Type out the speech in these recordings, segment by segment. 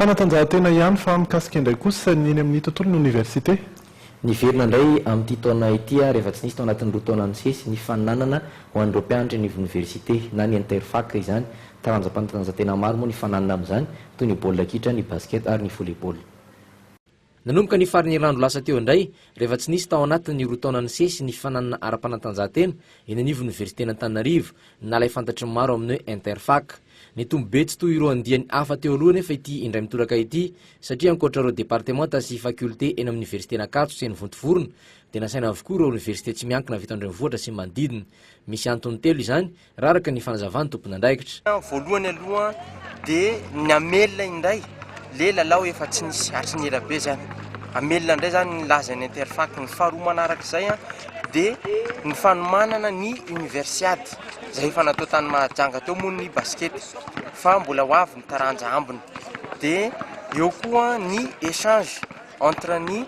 Fanatanjahantena ihany fa mikasika indray kosa ny eny amin'ny tontolon'ny oniversite? Niverina indray amin'ity taona ity ary efa tsy nisy tao anatin'ny roa taona nisesy ny faninanana ho an'ireo mpianatra eny ivoniversite na ny Interfac izany. Taranja mpanatanjantena maro moa nifaninanana amin'izany toy ny baolina kitra, ny basket ary ny volley-ball. Nanomboka ny faran'ny herinandro lasa teo indray, rehefa tsy nisy tao anatin'ny roa taona nisesy ny fananana ara-panatanjahantena eny anivon'ny Oniversiten'Antananarivo, ny nalahy fantatry ny maro amin'ny hoe Interfac. Nitombo be tsy toy ireo andiany hafa teo aloha anefa ity indray mitoraka ity, satria ankoatra ireo departemanta sy fakioltea eny amin'ny Oniversiten'Ankatso sy eny Vontovorona, dia nasaina avokoa ireo oniversite tsy miankina avy eto an-drenivohitra sy ny manodidina. Misy antony telo izany Raraka ny fanazavany tompon'andraikitra. Voalohany aloha dia ny amelona indray le lalao efa tsy nisy hatry ny elabe zany. Amelona indray zany ny lazan'ny interfac. Ny faharoa manarak'izay dia ny fanomanana ny universiade izay efa natao tany Mahajanga teo moa ny basket fa mbola ho avy ny taranja ambiny. Dia eo koa ny échange. Entre ny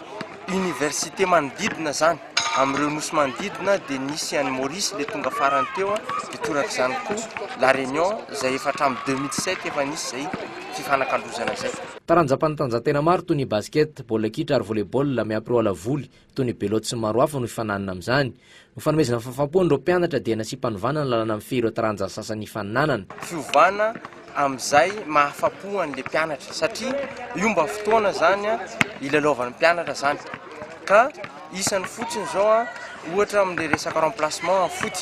université manodidina zany amin'ireo nosy manodidina dia nisy an'i Maurice le tonga farany teo dia torak'izany koa la Réunion izay efa hatramin'ny deux mille sept efa nisy izay fifanakalozana izay. Taranja mpanatanjantena maro toy ny basket, baolina kitra ary volley-ball miampy roa ala voly toy ny belote sy ny maro hafa no hifananana amin'izany. Ho fanomezana fahafaham-po an'ireo mpianatra dia nasiam-panovana ny lalàna mifehy ireo taranja sasany fananana. Fiovana amin'izay mahafa-po an'ilay mpianatra satria io mba fotoana izany hilalaovan'ny mpianatra izany ka isany fotsiny izao ohatra amin'ilay resaka remplacement amin'ny foot.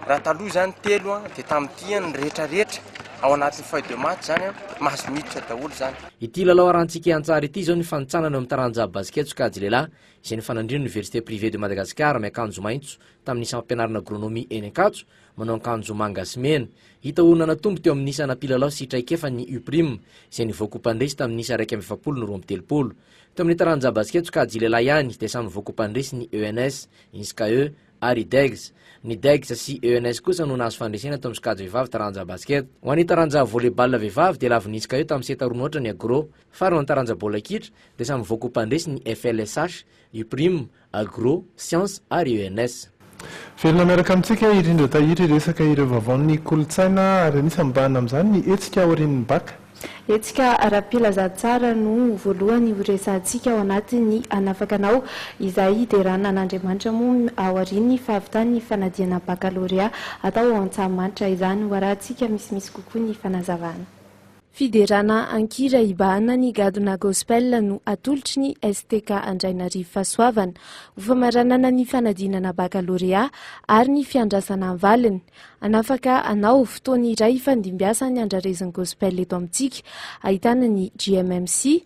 Raha taloha izany telo dia tamin'ity ny rehetra rehetra ao anatin'ny feuille de match izany mahazo miditra daholo izany. Ity lalao arantsika an-tsary ity izao ny fanintsanana eo amin'ny taranja basket sokajy lehilahy izay nifanandrin'ny Université Privée de Madagascar miakanjo maitso tamin'ny sampam-pianarana Agronomie eny Ankatso manao ankanjo manga sy mena. Hita ho nanatombo teo amin'ny isana mpilalao sy traikefa ny UPRIM izay nivoaka ho mpandresy tamin'ny isa iraika amby efapolo no roa amby telopolo. Teo amin'ny taranja basikety sokajy lehilahy ihany dia samy nivoaka ho mpandresy ny ENS, Inscae ary Degs. Ny Degs sy ENS kosa no nahazo fandresena teo amin'ny sokajy vehivavy taranja basikety. Ho an'ny taranja volley-ball vehivavy dia lavon'ny Inscae tamin'ny seta roa noatra ny Agro. Faro ny taranja baolina kitra dia samy voakoa mpandresy ny FLSH, Uprim, Agro, Sciences ary ENS. Velona miaraka amintsika i Rindra Tahiry hiresaka ireo vaovaon'ny kolontsaina ary anisan'ny mibahana amin'izany ny hetsika aorian'ny Bacc. Hetsika ara-pilazantsara no ho voalohany horesahantsika ao anatin'ny Hanafaka anao izay hiderana an'Andriamanitra moa ao aorian'ny fahavitan'ny fanadihana Baccalauréat atao ao Antsahamanitra. Izany ho arahantsika misimisy kokoa ny fanazavana. Fiderana an-kira Ibahana ny gadona Gospel no atolotry ny STK Andrainarivo Fahasoavana ho famaranana ny fanadinana bakalorea ary ny fiandrasana ny valiny. Hanafaka anao, fotoana iray ifandimbiasan'ny andrarezin'ny Gospel eto amintsika, ahitana ny GMMC,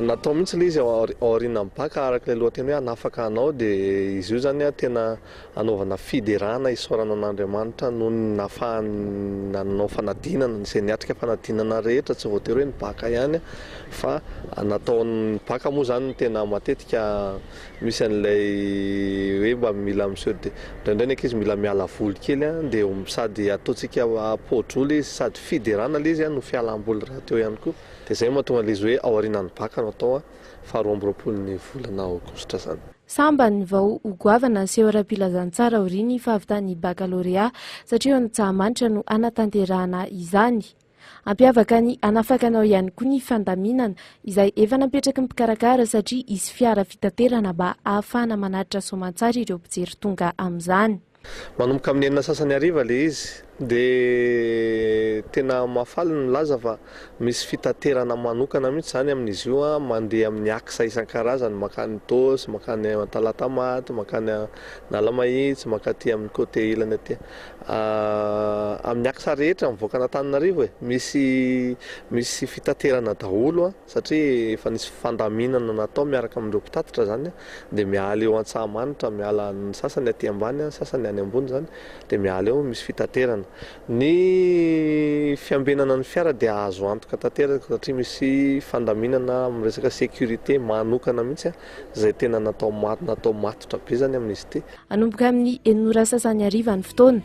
Natao mihitsy ilay izy ao aorianan'ny bac araka ilay lohateny hoe hanafaka anao dia izy io izany tena hanaovana fiderana hisaorana an'Andriamanitra noho ny nahafahany nanao fanadinana izay niatrika fanadinana rehetra tsy voatery hoe ny bac ihany fa natao ny bac moa izany tena matetika misy an'ilay hoe mba mila miseho dia indraindray ny ankizy mila miala voly kely dia sady ataontsika poa-drole izy sady fiderana ilay izy no fialam-boly rahateo ihany koa. Dia izay no mahatonga an'ilay izy hoe ao aorianan'ny baka no atao faharoa amby roapolon'ny volana aogositra izany. Sambany vao ho goavana haseho ara-pilazantsara aorian'ny fahavitan'ny bakalorea satria eo Antsahamanitra no hanatanterahana izany. Hampiavaka ny hanafakanao ihany koa ny fandaminana izay efa napetraky ny mpikarakara satria hisy fiara fitaterana mba hahafahana manaritra soamantsara ireo mpijery tonga amin'izany. Manomboka amin'ny enina sasany hariva ilay izy dia tena mahafaly ny milaza fa misy fitaterana manokana mihitsy izany amin'izy io mandeha amin'ny axe isan-karazany mankany Itaosy, mankany Talatamaty, mankany Analamahitsy, mankaty amin'ny côté ilany aty amin'ny axe rehetra mivoaka an'Antananarivo e! misy misy fitaterana daholo an! satria efa nisy fandaminana natao miaraka amin'ireo mpitatitra izany, dia miala eo Antsahamanitra, miala ny sasany aty ambany, ny sasany any ambony izany, dia miala eo misy fitaterana. Ny fiambenana ny fiara dia azo antoka tanteraka satria misy fandaminana amin'ny resaka sécurité manokana mihitsy izay tena natao matotra be izany amin'izy ity. Hanomboka amin'ny enina ora sasany hariva ny fotoana,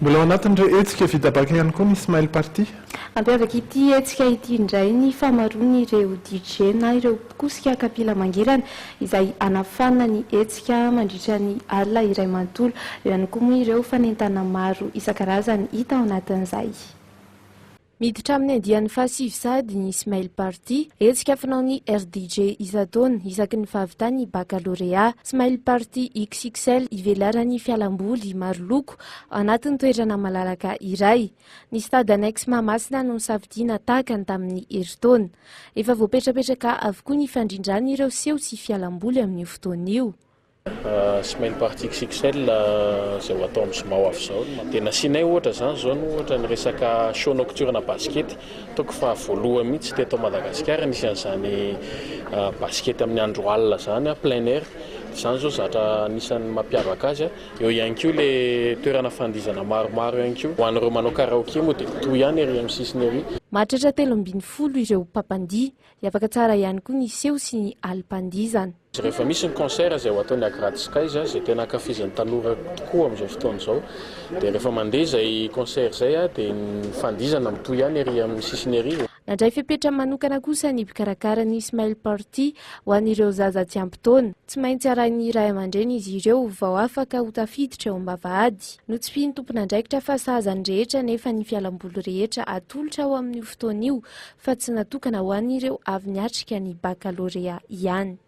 Mbola ao anatin'ireo hetsika vita baka ihany koa ny Smile Party. Hampiavaka ity hetsika ity indray ny famaroan'ireo DJ na ireo mpikosika kapila mangirana izay hanafana ny hetsika mandritra ny alina iray manontolo. Eo ihany koa moa ireo fanentana maro isan-karazany hita ao anatin'izay. Miditra amin'ny andiany fahasivy sahady ny Smile Party, hetsika fanaon'ny RDJ isan-taona isaky ny fahavitany ny bakalorea. Smile Party XXL ivelaran'ny fialamboly maro loko anatin'ny toerana malalaka iray. Ny Stade Annexe Mahamasina no nisafidiana tahaka ny tamin'ny herintaona. Efa voapetrapetraka avokoa ny fandrindrana ireo seho sy fialamboly amin'io fotoana io. Smile Party XXL izay ho atao amin'ny zoma ho avy izao. Dia nasianay ohatra izany izao no ohatra ny resaka show nocturne basikety. Ataoko fa voalohany mihitsy teto Madagasikara nisy an'izany basikety amin'ny andro alina izany, plein air. Izany izao zatra anisan'ny mampiavaka azy. Eo ihany koa ilay toerana fandihizana maromaro ihany koa. Ho an'ireo manao karaoke moa dia toy ihany ery amin'ny sisiny ery. Mahatratra telo ambin'ny folo ireo mpampandihy dia afaka tsara ihany koa ny seho sy ny alim-pandihizana. Rehefa misy ny concert izay ho atao ny Agrad Skies, izay tena ankafizin'ny tanora tokoa amin'izao fotoana izao, dia rehefa mandeha izay concert izay dia ny fandihizana mitohy ihany ery amin'ny sisiny ery. Nandray fepetra manokana kosa ny mpikarakara ny Smile Party ho an'ireo zaza tsy ampy taona. Tsy maintsy arahin'ny ray aman-dreny izy ireo vao afaka ho tafiditra eo am-bavahady. Notsipihin'ny tompon'andraikitra fa sahaza ny rehetra nefa ny fialamboly rehetra atolotra ho amin'io fotoana io fa tsy natokana ho an'ireo avy niatrika ny bakalorea ihany.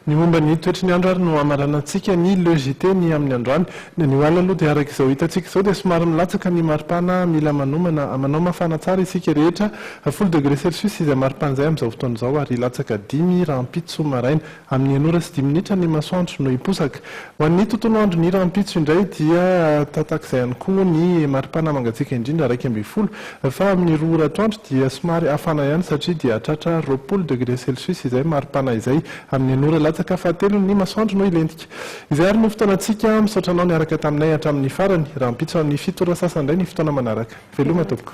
Ny momba ny toetry ny andro ary no hamaranantsika ny Le JT ny amin'ny androany. Ny anio alina aloha dia araka izao hitantsika izao dia somary milatsaka ny maripana, mila manomana, manao mafana tsara isika rehetra, folo degré celsius izay maripana izay amin'izao fotoana izao ary hilatsaka dimy rahampitso maraina. Amin'ny enina ora sy dimy minitra ny masoandro no hiposaka. Ho an'ny tontolo andron'ny rahampitso indray dia tatak'izay ihany koa ny maripana mangatsiaka indrindra iraika ambin'ny folo fa amin'ny roa ora atoandro dia somary hafana ihany satria dia hahatratra roapolo degre celcius izay maripana izay. Amin'ny enina ora latsaka fahatelo ny masoandro no hilentika. Izay ary no fotoanantsika. Misaotra anao niaraka taminay hatramin'ny farany. Rahampitso amin'ny fito ora sasa indray ny fotoana manaraka. Veloma tompoko.